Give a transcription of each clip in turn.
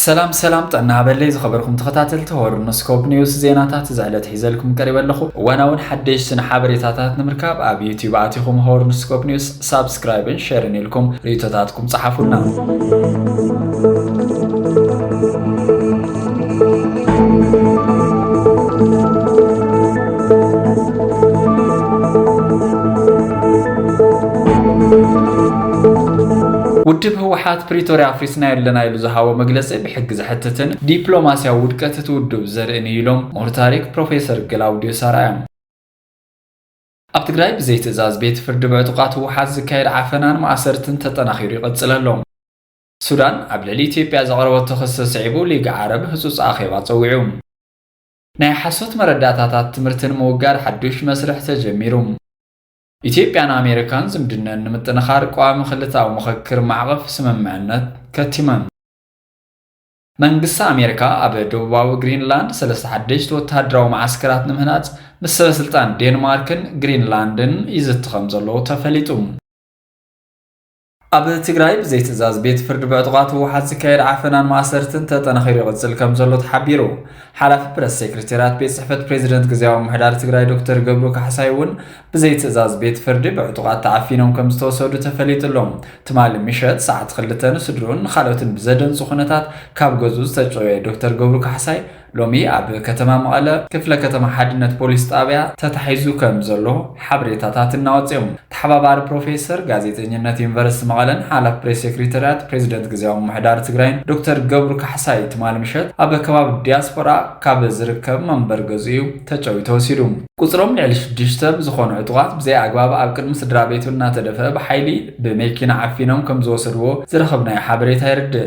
ሰላም ሰላም ጥዕና ሃበለይ ዝኸበርኩም ተኸታተልቲ ሆርኖስኮፕ ኒውስ ዜናታት እዚ ዕለት ሒዘልኩም ቀሪበ ኣለኹ እዋናውን ሓደሽትን ሓበሬታታት ንምርካብ ኣብ ዩቲዩብ ኣቲኹም ሆርኖስኮፕ ኒውስ ሳብስክራይብን ሸርን ኢልኩም ርእቶታትኩም ጸሓፉልና ውድብ ህወሓት ፕሪቶሪያ ሓዊስና የለና ኢሉ ዝሃቦ መግለጺ ብሕጊ ዘሕትትን ዲፕሎማሲያዊ ውድቀት እቲ ውድብ ዘርእን እዩ ኢሎም ምሁር ታሪክ ፕሮፌሰር ግላውድዮስ ኣርኣያ። ኣብ ትግራይ ብዘይ ትእዛዝ ቤት ፍርዲ ብዕጡቓት ህወሓት ዝካየድ ዓፈናን ማእሰርትን ተጠናኺሩ ይቕጽል ኣሎ። ሱዳን ኣብ ልዕሊ ኢትዮጵያ ዘቕረበቶ ክሲ ስዒቡ ሊግ ዓረብ ህጹጽ ኣኼባ ጸዊዑ። ናይ ሓሶት መረዳእታታት ትምህርቲ ንምውጋድ ሓዱሽ መስርሕ ተጀሚሩ። ኢትዮጵያን ኣሜሪካን ዝምድነን ንምጥንኻር ቀዋሚ ክልታዊ ምኽክር ማዕቐፍ ስምምዕነት ከቲመን። መንግስቲ ኣሜሪካ ኣብ ደቡባዊ ግሪንላንድ ሰለስተ ሓደሽቲ ወተሃደራዊ መዓስከራት ንምህናጽ ምስ ሰበ ስልጣን ዴንማርክን ግሪንላንድን ይዝቲ ከም ዘሎ ተፈሊጡ። ኣብ ትግራይ ብዘይ ትእዛዝ ቤት ፍርዲ ብዕጡቓት ህወሓት ዝካየድ ዓፈናን ማእሰርትን ተጠናኺሩ ይቕፅል ከም ዘሎ ተሓቢሩ። ሓላፊ ፕረስ ሴክሬታሪያት ቤት ጽሕፈት ፕሬዚደንት ግዜያዊ ምሕዳር ትግራይ ዶክተር ገብሩ ካሕሳይ እውን ብዘይ ትእዛዝ ቤት ፍርዲ ብዕጡቓት ተዓፊኖም ከም ዝተወሰዱ ተፈሊጡ ኣሎ። ትማሊ ምሸት ሰዓት ክልተ ንስድርኡን ንካልኦትን ብዘደንጹ ኩነታት ካብ ገዝኡ ዝተጨወየ ዶክተር ገብሩ ካሕሳይ ሎሚ ኣብ ከተማ መቐለ ክፍለ ከተማ ሓድነት ፖሊስ ጣብያ ተታሒዙ ከም ዘሎ ሓበሬታታት እናወፅ ዮም። ተሓባባሪ ፕሮፌሰር ጋዜጠኝነት ዩኒቨርስቲ መቐለን ሓላፊ ፕሬስ ሴክሪተሪያት ፕሬዚደንት ግዝያዊ ምምሕዳር ትግራይን ዶክተር ገብሩ ካሕሳይ ትማሊ ምሸት ኣብ ከባቢ ዲያስፖራ ካብ ዝርከብ መንበሪ ገዝኡ ዩ ተጨውዩ ተወሲዱ። ቁፅሮም ልዕሊ ሽዱሽተ ዝኾኑ ዕጡቓት ብዘይ ኣግባብ ኣብ ቅድሚ ስድራቤቱ እናተደፈ ብሓይሊ ብመኪና ዓፊኖም ከም ዝወሰድዎ ዝረኸብናዮ ሓበሬታ የረድእ።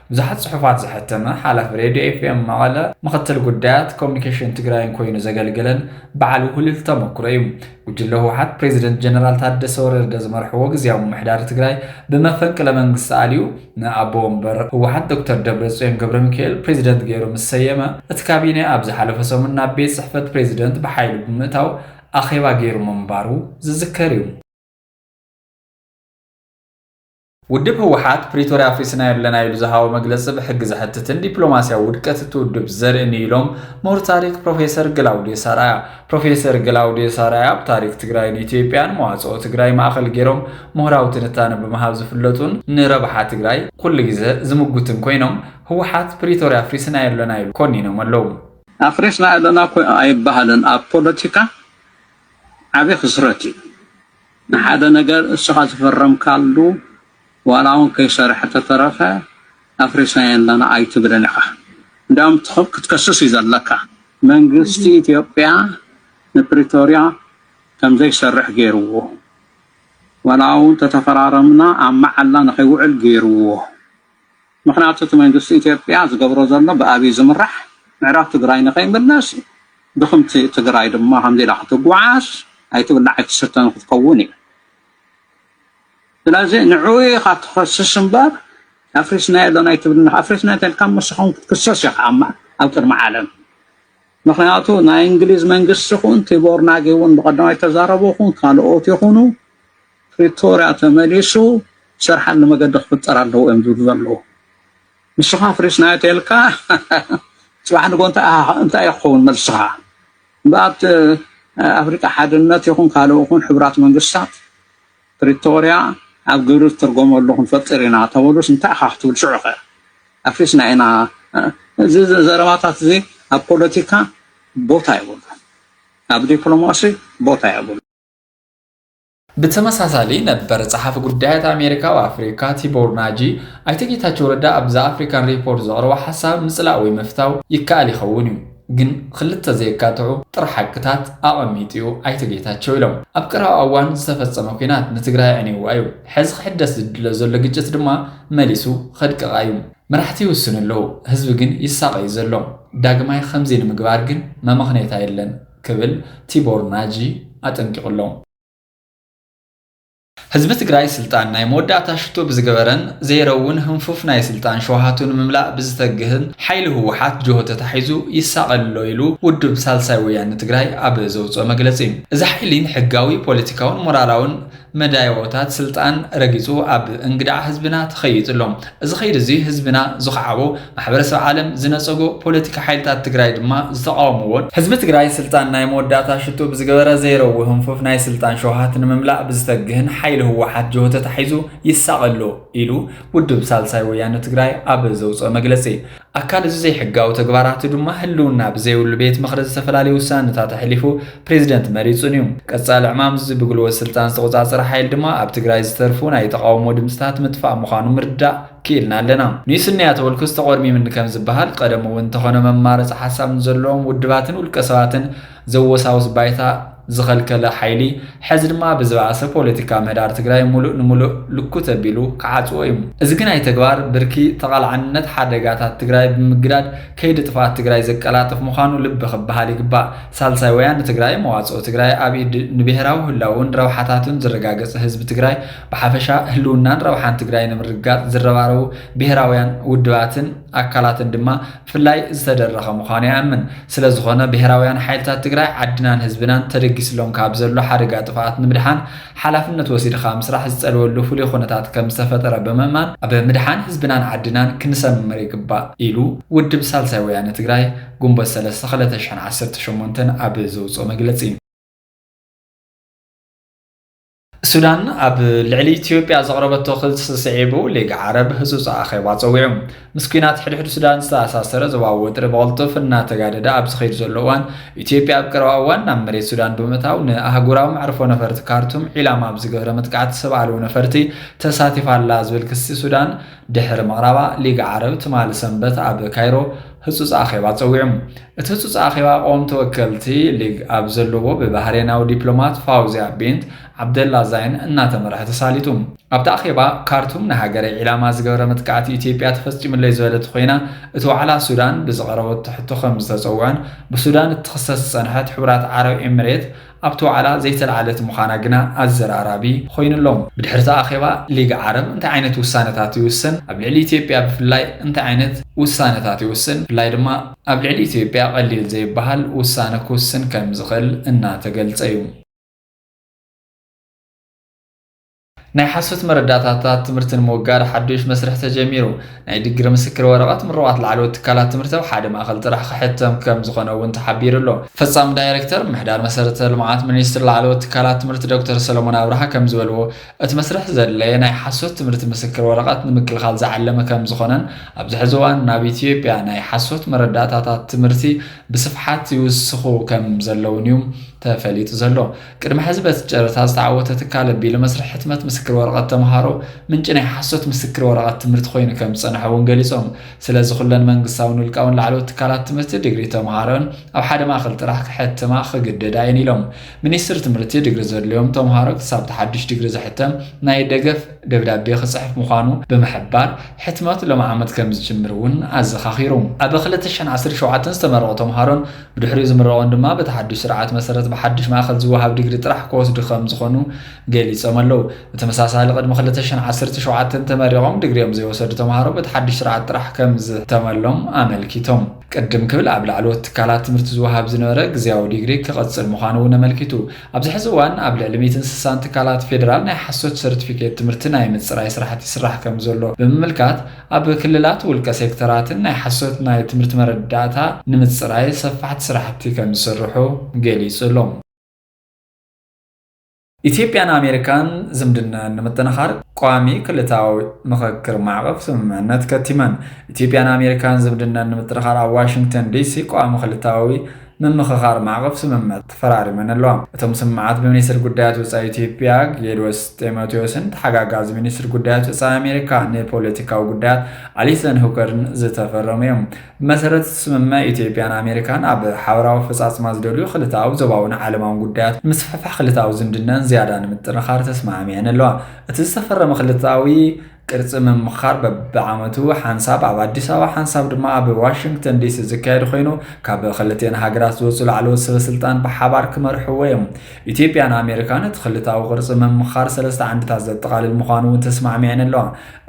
ብዙሓት ፅሑፋት ዘሐተመ ሓላፊ ሬድዮ ኤፍኤም መቐለ፣ ምኽትል ጉዳያት ኮሙኒኬሽን ትግራይን ኮይኑ ዘገልገለን በዓል ውህሉል ተመኩሮ እዩ። ጉጅለ ህወሓት ፕሬዚደንት ጀነራል ታደሰ ወረደ ዝመርሕዎ ግዝያዊ ምምሕዳር ትግራይ ብመፈንቅለ መንግስቲ ኣልዩ ንኣቦ ወንበር ህወሓት ዶክተር ደብረፅዮን ገብረሚካኤል ፕሬዚደንት ገይሩ ምስ ሰየመ እቲ ካቢነ ኣብ ዝሓለፈ ሰሙን ናብ ቤት ፅሕፈት ፕሬዚደንት ብሓይሊ ብምእታው ኣኼባ ገይሩ ምንባሩ ዝዝከር እዩ። ውድብ ህወሓት ፕሪቶርያ ኣፍሪስናዮ ኣለና ኢሉ ዝሃቦ መግለፂ ብሕጊ ዘሕትትን ዲፕሎማስያዊ ውድቀት እቲ ውድብ ዘርእን እዩ ኢሎም ምሁር ታሪክ ፕሮፌሰር ግላውዲዮስ ኣርኣያ። ፕሮፌሰር ግላውዲዮስ ኣርኣያ ኣብ ታሪክ ትግራይን ኢትዮጵያን መዋፅኦ ትግራይ ማእኸል ገይሮም ምሁራዊ ትንታነ ብምሃብ ዝፍለጡን ንረብሓ ትግራይ ኩሉ ግዘ ዝምጉትን ኮይኖም ህወሓት ፕሪቶርያ ኣፍሪስናዮ ኣለና ኢሉ ኮኒኖም ኣለው። ኣፍሪስናዮ ኣለና እኮ ኣይበሃልን ኣብ ፖለቲካ ዓብይ ክስረት እዩ። ንሓደ ነገር እስኻ ዝፈረምካሉ ዋላ ውን ከይሰርሐ ተተረፈ ኣፍሪስናዮ ኣለና ኣይትብል ኢኻ እንድያም ክትከስስ እዩ ዘለካ መንግስቲ ኢትዮጵያ ንፕሪቶርያ ከምዘይሰርሕ ገይርዎ ዋላ ውን ተተፈራረምና ኣብ መዓላ ንኸይውዕል ገይርዎ ምኽንያቱ እቲ መንግስቲ ኢትዮጵያ ዝገብሮ ዘሎ ብኣብይ ዝምራሕ ምዕራብ ትግራይ ንኸይምለስ ድኽምቲ ትግራይ ድማ ከምዚ ኢላ ክትጓዓዝ ኣይትብላዕ ኣይትስተን ክትከውን እያ። ስለዚ ንዕኡ ኢኻ ትኸስስ እምበር ኣፍሪስናዮ ዶ ናይ ትብል ኣፍሪስናዮ ተልካ መሰኹም ክትክሰስ ኢኻ ኣብ ቅድሚ ዓለም ምክንያቱ ናይ እንግሊዝ መንግስቲ ኹን ቲቦር ናጊ እውን ብቀዳማይ ተዛረቡ ኹን ካልኦት ይኹኑ ፕሪቶርያ ተመሊሱ ዝሰርሓሉ መገዲ ክፍጠር ኣለዎ እዮም ዝብሉ ዘለዉ ንስኻ ኣፍሪስናዮ ተልካ ፅባሕ ንጎ እንታይ ክኸውን መልስኻ እምበኣብ ኣፍሪቃ ሓድነት ይኹን ካልእ ይኹን ሕብራት መንግስታት ፕሪቶርያ ኣብ ግብሪ ዝትርጎመሉ ክንፈጥር ኢና ተበሉስ እንታይ ኢኻ ክትብል ሽዑ ኸ ኣፍሪስና ኢና እዚ ዘረባታት እዚ ኣብ ፖለቲካ ቦታ የብሉ ኣብ ዲፕሎማሲ ቦታ የብሉ ብተመሳሳሊ ነበር ጸሓፊ ጉዳያት ኣሜሪካ ኣብ ኣፍሪካ ቲቦር ናጂ፣ ኣይተ ጌታቸው ረዳ ኣብ ዘ ኣፍሪካን ሪፖርት ዘቕረቦ ሓሳብ ምጽላእ ወይ ምፍታው ይከኣል ይኸውን እዩ፣ ግን ኽልተ ዘየካትዑ ጥረ ሓቅታት ኣቐሚጡ እዩ ኣይተ ጌታቸው ኢሎም። ኣብ ቀረባ እዋን ዝተፈጸመ ኲናት ንትግራይ ኣዕኒውዋ እዩ፣ ሕዚ ክሕደስ ዝድለ ዘሎ ግጭት ድማ መሊሱ ኸድቅቓ እዩ። መራሕቲ ይውስኑ ኣለዉ፣ ህዝቢ ግን ይሳቐ እዩ ዘሎ፣ ዳግማይ ኸምዚ ንምግባር ግን መመኽነይታ የለን። ክብል ቲቦር ናጂ ኣጠንቂቑ ኣሎ። ህዝቢ ትግራይ ስልጣን ናይ መወዳእታ ሽቶ ብዝገበረን ዘይረውን ህንፉፍ ናይ ስልጣን ሸውሃቱ ንምምላእ ብዝተግህን ሓይሊ ህወሓት ጅሆ ተታሒዙ ይሳቐ ኣሎ ኢሉ ውድብ ሳልሳይ ወያነ ትግራይ ኣብ ዘውፅኦ መግለፂ። እዚ ሓይሊ ንሕጋዊ፣ ፖለቲካውን ሞራላውን መዳይቦታት ስልጣን ረጊጹ ኣብ እንግዳዕ ህዝብና ተኸይጡ ኣሎ። እዚ ከይዲ እዚ ህዝብና ዝኸዓቦ፣ ማሕበረሰብ ዓለም ዝነጸጎ፣ ፖለቲካ ሓይልታት ትግራይ ድማ ዝተቓወምዎን፣ ህዝቢ ትግራይ ስልጣን ናይ መወዳእታ ሽቶ ብዝገበረ ዘይረዊ ህንፉፍ ናይ ስልጣን ሸውሃት ንምምላእ ብዝተግህን ሓይሊ ህወሓት ጅሆ ተታሒዙ ይሳቐ ኣሎ ኢሉ ውድብ ሳልሳይ ወያነ ትግራይ ኣብ ዘውጽኦ መግለጺ ኣካል እዚ ዘይሕጋዊ ተግባራቱ ድማ ህልውና ብዘይብሉ ቤት ምኽሪ ዝተፈላለዩ ውሳነታት ኣሕሊፉ ፕሬዚደንት መሪፁን እዩ። ቀፃሊ ዕማም እዚ ብግልዎት ስልጣን ዝተቖፃፀረ ሓይሊ ድማ ኣብ ትግራይ ዝተርፉ ናይ ተቓውሞ ድምፅታት ምጥፋእ ምዃኑ ምርዳእ ክኢልና ኣለና። ንይስንያ ተወልኩስ ተቖርሚምኒ ከምዝበሃል፣ ቐደሙ እውን እንተኾነ መማረፂ ሓሳብ ንዘለዎም ውድባትን ውልቀሰባትን፣ ዘወሳውስ ባይታ ዝኸልከለ ሓይሊ ሐዚ ድማ ብዝበኣሰ ፖለቲካ ምህዳር ትግራይ ሙሉእ ንሙሉእ ልኩት ኣቢሉ ክዓፅዎ እዩ። እዚ ግናይ ተግባር ብርኪ ተቓልዓንነት ሓደጋታት ትግራይ ብምግዳድ ከይዲ ጥፍኣት ትግራይ ዘቀላጥፍ ምዃኑ ልቢ ክበሃል ይግባእ። ሳልሳይ ወያነ ትግራይ መዋፅኦ ትግራይ ኣብ ኢድ ንብሄራዊ ህላውኡን ረብሓታቱን ዝረጋገፀ ህዝቢ ትግራይ ብሓፈሻ ህልውናን ረብሓን ትግራይ ንምርግጋፅ ዝረባረቡ ብሄራውያን ውድባትን ኣካላትን ድማ ብፍላይ ዝተደረኸ ምዃኑ ይኣምን። ስለዝኾነ ብሄራውያን ሓይልታት ትግራይ ዓድናን ህዝብናን ተደጊስሎም ካብ ዘሎ ሓደጋ ጥፍኣት ንምድሓን ሓላፍነት ወሲድኻ ምስራሕ ዝፀልወሉ ፍሉይ ኹነታት ከምዝተፈጠረ ብምእማን ኣብ ምድሓን ህዝብናን ዓድናን ክንሰምር ይግባእ ኢሉ ውድብ ሳልሳይ ወያነ ትግራይ ግንቦት ሰለስተ ክልተ ሽሕን ዓሰርተ ሸሞንተን ኣብ ዘውፅኦ መግለፂ። ሱዳን ኣብ ልዕሊ ኢትዮጵያ ዘቕረበቶ ክልሲ ስዒቡ ሊግ ዓረብ ህጹጽ ኣኼባ ጸዊዑ። ምስ ኲናት ሕድሕድ ሱዳን ዝተኣሳሰረ ዞባዊ ወጥሪ ብቕልጡፍ እናተጋደደ ኣብ ዝኸይድ ዘሎ እዋን ኢትዮጵያ ኣብ ቀረባ እዋን ናብ መሬት ሱዳን ብምእታው ንኣህጉራዊ መዕርፎ ነፈርቲ ካርቱም ዒላማ ኣብ ዝገበረ መጥቃዕቲ ሰብ ኣልቦ ነፈርቲ ተሳቲፋ ኣላ ዝብል ክሲ ሱዳን ድሕሪ ምቕራባ፣ ሊግ ዓረብ ትማሊ ሰንበት ኣብ ካይሮ ህጹጽ ኣኼባ ጸዊዑ። እቲ ህጹጽ ኣኼባ ቀወምቲ ወከልቲ ሊግ ኣብ ዘለዎ ብባህሬናዊ ዲፕሎማት ፋውዝያ ቢንት ዓብደላ ዛይን እናተመርሐ ተሳሊጡ። ኣብቲ ኣኼባ ካርቱም ንሃገረይ ዒላማ ዝገበረ መጥቃዕቲ ኢትዮጵያ ተፈጺሙለይ ዝበለት ኾይና፣ እቲ ዋዕላ ሱዳን ብዝቐረበቶ ሕቶ ከምዝተጸውዐን ብሱዳን እትኽሰስ ዝጸንሐት ሕቡራት ዓረብ ኤምሬት ኣብቲ ዋዕላ ዘይተላዓለት ምዃና ግና ኣዘራራቢ ኾይኑ ኣሎ። ብድሕሪ'ቲ ኣኼባ ሊግ ዓረብ እንታይ ዓይነት ውሳነታት ይውስን፣ ኣብ ልዕሊ ኢትዮጵያ ብፍላይ እንታይ ዓይነት ውሳነታት ይውስን፣ ብፍላይ ድማ ኣብ ልዕሊ ኢትዮጵያ ቐሊል ዘይበሃል ውሳነ ክውስን ከምዝኽእል እናተገልፀ'ዩ። ናይ ሓሶት መረዳእታታት ትምህርቲ ንምውጋድ ሓዱሽ መስርሕ ተጀሚሩ። ናይ ድግሪ ምስክር ወረቐት ምሩቓት ላዕለዎት ትካላት ትምህርቲ ኣብ ሓደ ማእኸል ጥራሕ ክሕተም ከም ዝኾነ እውን ተሓቢሩ ኣሎ። ፈፃሚ ዳይሬክተር ምምሕዳር መሰረተ ልምዓት ሚኒስትሪ ላዕለዎት ትካላት ትምህርቲ ዶክተር ሰሎሞን ኣብርሃ ከም ዝበልዎ፣ እቲ መስርሕ ዘድለየ ናይ ሓሶት ትምህርቲ ምስክር ወረቐት ንምክልኻል ዝዓለመ ከም ዝኾነን ኣብዚ ሕዚ እዋን ናብ ኢትዮጵያ ናይ ሓሶት መረዳእታታት ትምህርቲ ብስፍሓት ይውስኹ ከም ዘለውን እዩ ተፈሊጡ ዘሎ። ቅድሚ ሕዚ በቲ ጨረታ ዝተዓወተ ትካል ኣቢሉ መስርሕ ሕትመት ምስክር ወረቐት ተምሃሮ ምንጪ ናይ ሓሶት ምስክር ወረቐት ትምህርቲ ኮይኑ ከም ዝጸንሐ እውን ገሊጾም። ስለዚ ኩለን መንግስታውን ውልቃውን ላዕለዎት ትካላት ትምህርቲ ድግሪ ተምሃሮን ኣብ ሓደ ማእኸል ጥራሕ ክሕትማ ክግደዳ እየን ኢሎም። ሚኒስትሪ ትምህርቲ ድግሪ ዘድልዮም ተምሃሮ ክሳብ እቲ ሓድሽ ድግሪ ዝሕተም ናይ ደገፍ ደብዳቤ ክጽሕፍ ምዃኑ ብምሕባር ሕትመት ሎሚ ዓመት ከም ዝጅምር እውን ኣዘኻኺሩ። ኣብ ክልተ ሽሕን ዓሰርተ ሸውዓተን ዝተመረቑ ተምሃሮን ብድሕሪኡ ዝምረቑን ድማ በቲ ሓዱሽ ስርዓት መሰረት ብሓዱሽ ማእኸል ዝወሃብ ዲግሪ ጥራሕ ክወስዱ ከምዝኾኑ ገሊፆም ኣለው። ብተመሳሳሊ ቅድሚ ክልተ ሽሕን ዓሰርተ ሸውዓተን ተመሪቖም ዲግሪኦም ዘይወሰዱ ተምሃሮ በቲ ሓዱሽ ስርዓት ጥራሕ ከምዝሕተመሎም ኣመልኪቶም። ቅድም ክብል ኣብ ላዕለዎት ትካላት ትምህርቲ ዝወሃብ ዝነበረ ግዝያዊ ዲግሪ ክቕፅል ምዃኑ እውን ኣመልኪቱ። ኣብዚ ሕዚ እዋን ኣብ ልዕሊ ሚእትን ስሳን ትካላት ፌዴራል ናይ ሓሶት ሰርቲፊኬት ትምህርቲ ናይ ምፅራይ ስራሕቲ ይስራሕ ከምዘሎ ብምምልካት፣ ኣብ ክልላት ውልቀ ሴክተራትን ናይ ሓሶት ናይ ትምህርቲ መረዳእታ ንምፅራይ ሰፋሕቲ ስራሕቲ ከምዝስርሑ ገሊፁ ኣሎ። ኢትዮጵያን ኣሜሪካን ዝምድነኣን ንምጥንኻር ቋሚ ክልታዊ ምኽክር ማዕቐፍ ስምምዕነት ከቲመን። ኢትዮጵያን ኣሜሪካን ዝምድነኣን ንምጥንኻር ኣብ ዋሽንግተን ዲሲ ቋሚ ክልታዊ ምምኽኻር ማዕቐፍ ስምምዕ ተፈራሪመን ኣለዋ። እቶም ስምምዓት ብሚኒስትር ጉዳያት ወፃኢ ኢትዮጵያ ጌዲዎስ ጢሞቴዎስን ተሓጋጋዚ ሚኒስትር ጉዳያት ወፃኢ ኣሜሪካ ንፖለቲካዊ ጉዳያት ኣሊሰን ሁከርን ዝተፈረሙ እዮም። ብመሰረት እቲ ስምምዕ ኢትዮጵያን ኣሜሪካን ኣብ ሓበራዊ ኣፈፃፅማ ዝደልዩ ክልተኣዊ፣ ዞባዊን ዓለማዊን ጉዳያት ንምስፍሕፋሕ ክልተኣዊ ዝምድነን ዝያዳ ንምጥንኻር ተስማዕሚዐን ኣለዋ። እቲ ዝተፈረመ ክልተኣዊ ቅርፂ ምምኻር በቢዓመቱ ሓንሳብ ኣብ ኣዲስ ኣበባ ሓንሳብ ድማ ኣብ ዋሽንግተን ዲሲ ዝካየድ ኮይኑ ካብ ክልቴን ሃገራት ዝወፁ ላዕለዎት ሰበስልጣን ብሓባር ክመርሕዎ እዮም። ኢትዮጵያን ኣሜሪካን እቲ ክልታዊ ቅርፂ ምምኻር ሰለስተ ዓንድታት ዘጠቓልል ምዃኑ እውን ተስማዕሚዐን ኣለዋ።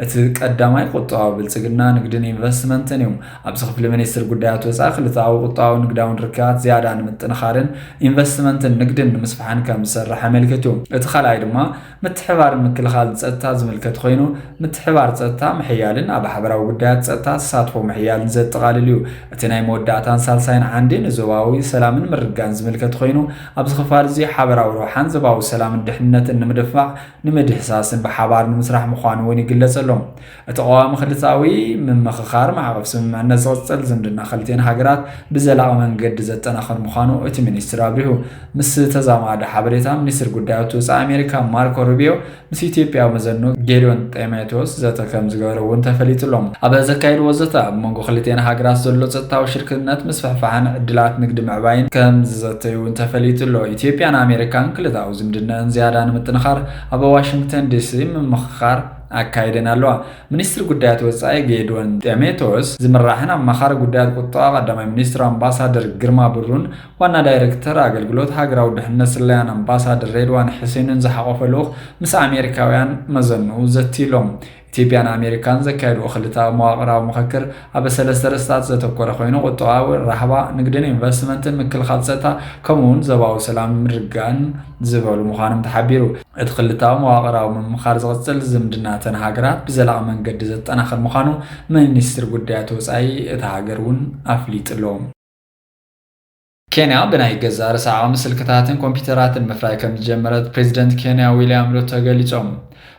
እቲ ቀዳማይ ቁጠባዊ ብልፅግና፣ ንግድን ኢንቨስትመንትን እዩ። ኣብዚ ክፍሊ ሚኒስትር ጉዳያት ወፃኢ ክልተኣዊ ቁጠባውን ንግዳውን ርክባት ዝያዳ ንምጥንኻርን ኢንቨስትመንትን ንግድን ንምስፋሕን ከምዝሰርሕ ኣመልኪቱ። እቲ ካልኣይ ድማ ምትሕብባር ምክልኻል ፀጥታ ዝምልከት ኾይኑ ምትሕብባር ፀጥታ ምሕያልን ኣብ ሓበራዊ ጉዳያት ፀጥታ ተሳትፎ ምሕያልን ዘጠቓልል እዩ። እቲ ናይ መወዳእታን ሳልሳይን ዓንዲ ንዞባዊ ሰላምን ምርግጋእን ዝምልከት ኾይኑ ኣብዚ ክፋል እዙይ ሓበራዊ ረብሓን ዞባዊ ሰላምን ድሕንነትን ንምድፍፋዕ ንምድህሳስን ብሓባር ንምስራሕ ምዃኑ እውን ይግለፀሎም። እቲ ቀዋሚ ክልተኣዊ ምምኽኻር ማዕቐፍ ስምምዕነት ዝቕፅል ዝምድና ክልቲኤን ሃገራት ብዘላቒ መንገዲ ዘጠናኽር ምዃኑ እቲ ሚኒስትር ኣብሪሁ። ምስ ተዛማዲ ሓበሬታ ሚኒስትር ጉዳያት ወፃኢ ኣሜሪካ ማርኮ ሩቢዮ ምስ ኢትዮጵያዊ መዘኑ ጌዲዮን ጤሜቴዎስ ዘተ ከም ዝገበረ እውን ተፈሊጡ ኣሎ። ኣብ ዘካየድዎ ዘተ ኣብ መንጎ ክልቲኤን ሃገራት ዘሎ ፀጥታዊ ሽርክነት ምስፍሕፋሕን ዕድላት ንግዲ ምዕባይን ከም ዝዘተዩ እውን ተፈሊጡ ኣሎ። ኢትዮጵያን ኣሜሪካን ክልተኣዊ ዝምድነኣን ዝያዳ ንምጥንኻር ኣብ ዋሽንግተን ዲሲ ምምኽኻር ኣካይደን ኣለዋ። ሚኒስትሪ ጉዳያት ወጻኢ ጌድዎን ጤሜቶስ ዝምራሕን ኣማኻሪ ጉዳያት ቁጠባ ቀዳማይ ሚኒስትር ኣምባሳደር ግርማ ብሩን ዋና ዳይረክተር ኣገልግሎት ሃገራዊ ድሕነት ስለያን ኣምባሳደር ሬድዋን ሕሴንን ዝሓቖፈ ልኡኽ ምስ ኣሜሪካውያን መዘንኡ ዘትዩሎም። ኢትዮጵያን ኣሜሪካን ዘካየድዎ ክልተኣዊ መዋቕራዊ ምኽክር ኣብ ሰለስተ ርእስታት ዘተኮረ ኮይኑ፣ ቁጠባዊ፣ ራህዋ፣ ንግድን ኢንቨስትመንትን፣ ምክልኻል ፀጥታ ከምኡ እውን ዞባዊ ሰላምን ምርግጋእን ዝበሉ ምዃኖም ተሓቢሩ። እቲ ክልተኣዊ መዋቕራዊ ምምኻር ዝቕፅል፣ ዝምድና እተን ሃገራት ብዘላቒ መንገዲ ዘጠናኽር ምዃኑ ሚኒስትሪ ጉዳያት ወፃኢ እታ ሃገር እውን ኣፍሊጡ'ሎ። ኬንያ ብናይ ገዛእ ርእሳ ዓቕሚ ስልክታትን ኮምፒዩተራትን ምፍራይ ከምዝጀመረት ፕሬዚደንት ኬንያ ዊልያም ሩቶ ገሊፆም።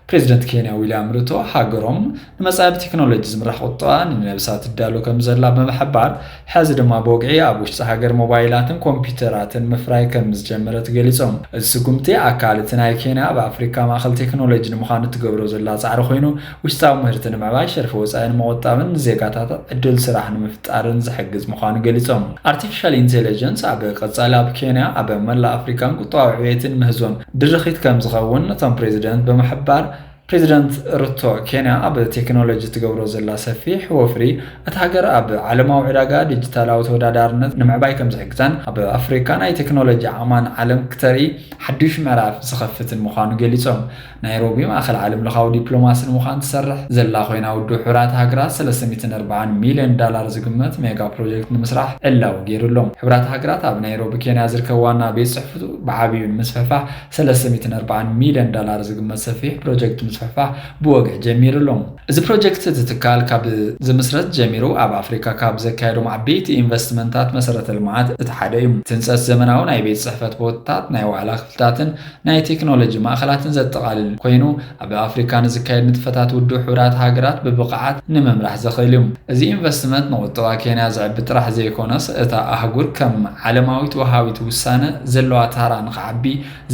ፕሬዚደንት ኬንያ ዊልያም ሩቶ ሃገሮም ንመፃኢ ብቴክኖሎጂ ዝምራሕ ቁጠባ ንመልሳ ትዳሎ ከምዘላ ብምሕባር ሕዚ ድማ ብወግዒ ኣብ ውሽጢ ሃገር ሞባይላትን ኮምፒዩተራትን ምፍራይ ከምዝጀመረት ገሊፆም። እዚ ስጉምቲ ኣካል እቲ ናይ ኬንያ ኣብ ኣፍሪካ ማእኸል ቴክኖሎጂ ንምዃን እትገብሮ ዘላ ፃዕሪ ኮይኑ ውሽጣዊ ምህርቲ ንምዕባይ፣ ሸርፊ ወፃኢ ንምቑጣብን ንዜጋታት ዕድል ስራሕ ንምፍጣርን ዝሕግዝ ምዃኑ ገሊፆም። ኣርቲፊሻል ኢንቴሌጀንስ ኣብ ቀፃሊ ኣብ ኬንያ፣ ኣብ መላእ ኣፍሪካን ቁጠባዊ ዕብየትን ምህዞን ድርኺት ከምዝኸውን እቶም ፕሬዚደንት ብምሕባር፣ ፕሬዚደንት ሩቶ ኬንያ ኣብ ቴክኖሎጂ እትገብሮ ዘላ ሰፊሕ ወፍሪ እታ ሃገር ኣብ ዓለማዊ ዕዳጋ ዲጂታላዊ ተወዳዳርነት ንምዕባይ ከምዝሕግዛን ኣብ ኣፍሪካ ናይ ቴክኖሎጂ ዓቕማን ዓለም ክተርኢ ሓዱሽ ምዕራፍ ዝኸፍትን ምዃኑ ገሊፆም። ናይሮቢ ማእኸል ዓለምለኻዊ ዲፕሎማሲ ንምዃን ትሰርሕ ዘላ ኮይና ውድብ ሕቡራት ሃገራት ሰለስተ ሚእትን ኣርባዓን ሚልዮን ዳላር ዝግመት ሜጋ ፕሮጀክት ንምስራሕ ዕላዊ ገይሩ ኣሎ። ሕቡራት ሃገራት ኣብ ናይሮቢ ኬንያ ዝርከብ ዋና ቤት ፅሕፍቱ ብዓብዩ ንምስፍሕፋሕ ሰለስተ ሚእትን ኣርባዓን ሚልዮን ዳላር ዝግመት ሰፊሕ ፕሮጀክት ምስፍሕፋሕ ብወግዒ ጀሚሩ ኣሎ። እዚ ፕሮጀክት እቲ ትካል ካብ ዝምስረት ጀሚሩ ኣብ ኣፍሪካ ካብ ዘካየዶም ዓበይቲ ኢንቨስትመንታት መሰረተ ልምዓት እቲ ሓደ እዩ። እቲ ህንፀት ዘመናዊ ናይ ቤት ፅሕፈት ቦታታት፣ ናይ ዋዕላ ክፍልታትን፣ ናይ ቴክኖሎጂ ማእኸላትን ዘጠቓልል ኮይኑ ኣብ ኣፍሪካ ንዝካየድ ንጥፈታት ውድብ ሕቡራት ሃገራት ብብቕዓት ንምምራሕ ዘኽእል እዩ። እዚ ኢንቨስትመንት ንቑጠባ ኬንያ ዘዕቢ ጥራሕ ዘይኮነስ እታ ኣህጉር ከም ዓለማዊት ወሃቢት ውሳነ ዘለዋ ታራ ንኽዓቢ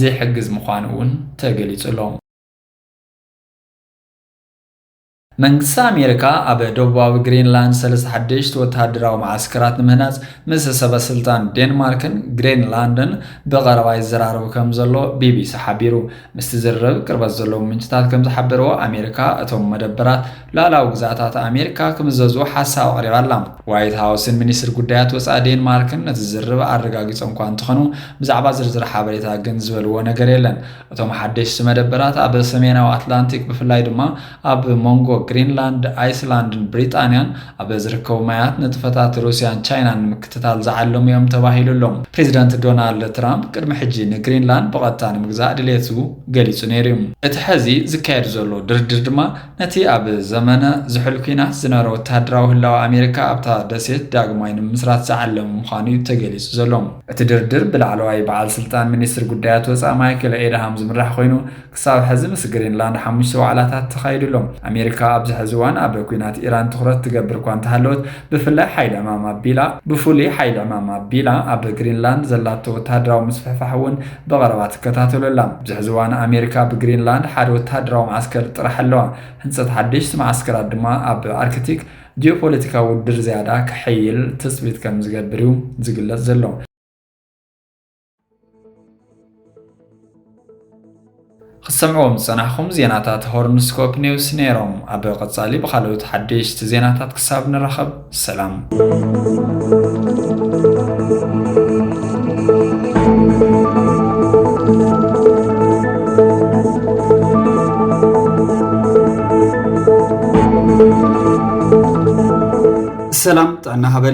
ዝሕግዝ ምዃኑ እውን ተገሊፁ ኣሎ። መንግስቲ ኣሜሪካ ኣብ ደቡባዊ ግሪንላንድ ሰለስተ ሓደሽቲ ወተሃደራዊ መዓስከራት ንምህናጽ ምስ ሰበስልጣን ዴንማርክን ግሪንላንድን ብቐረባ ይዘራረቡ ከም ዘሎ ቢቢሲ ሓቢሩ። ምስቲ ዝርርብ ቅርበት ዘለዎም ምንጭታት ከም ዝሓበርዎ፣ ኣሜሪካ እቶም መደበራት ሉኣላዊ ግዝኣታት ኣሜሪካ ክምዘዙ ሓሳብ ኣቕሪባ ኣላ። ዋይት ሃውስን ሚኒስትሪ ጉዳያት ወጻኢ ዴንማርክን ነቲ ዝርርብ ኣረጋጊጾም'ኳ እንተኾኑ፣ ብዛዕባ ዝርዝር ሓበሬታ ግን ዝበልዎ ነገር የለን። እቶም ሓደሽቲ መደበራት ኣብ ሰሜናዊ ኣትላንቲክ ብፍላይ ድማ ኣብ መንጎ ግሪንላንድ፣ ኣይስላንድን ብሪጣንያን ኣብ ዝርከቡ ማያት ንጥፈታት ሩስያን ቻይናን ንምክትታል ዝዓለሙ እዮም ተባሂሉ ኣሎ። ፕሬዚደንት ዶናልድ ትራምፕ ቅድሚ ሕጂ ንግሪንላንድ ብቐጥታ ንምግዛእ ድሌቱ ገሊጹ ነይሩ እዩ። እቲ ሕዚ ዝካየድ ዘሎ ድርድር ድማ ነቲ ኣብ ዘመነ ዝሑል ኲናት ዝነበረ ወተሃደራዊ ህላወ ኣሜሪካ ኣብታ ደሴት ዳግማይ ንምምስራት ዝዓለመ ምዃኑ'ዩ ተገሊጹ ዘሎ። እቲ ድርድር ብላዕለዋይ በዓል ስልጣን ሚኒስትሪ ጉዳያት ወጻኢ ማይክል ኤድሃም ዝምራሕ ኮይኑ፣ ክሳብ ሕዚ ምስ ግሪንላንድ ሓሙሽተ ዋዕላታት ተኻይዱ ኣሎ። ኣሜሪካ ኣብዚ ሕዚ እዋን ኣብ ኲናት ኢራን ትኹረት ትገብር እኳ እንተሃለወት፣ ብፍላይ ሓይሊ ዕማም ኣቢላ ብፍሉይ ሓይሊ ዕማም ኣቢላ ኣብ ግሪንላንድ ዘላቶ ወተሃደራዊ ምስፍሕፋሕ'ውን ብቐረባ ትከታተሎ ኣላ። ኣብዚ ሕዚ እዋን ኣሜሪካ ኣብ ግሪንላንድ ሓደ ወተሃደራዊ መዓስከር ጥራሕ ኣለዋ፣ ህንጸት ሓደሽቲ መዓስከራት ድማ ኣብ ኣርክቲክ ጂኦፖለቲካዊ ውድድር ዝያዳ ከሐይል ትጽቢት ከም ዝገብር እዩ ዝግለጽ ዘሎ። ክትሰምዕዎም ዝጸናሕኩም ዜናታት ሆርንስኮፕ ኔውስ ነይሮም። ኣብ ቀጻሊ ብኻልኦት ሓደሽቲ ዜናታት ክሳብ ንራኸብ ሰላም። ሰላም ጥዕና ሃበል።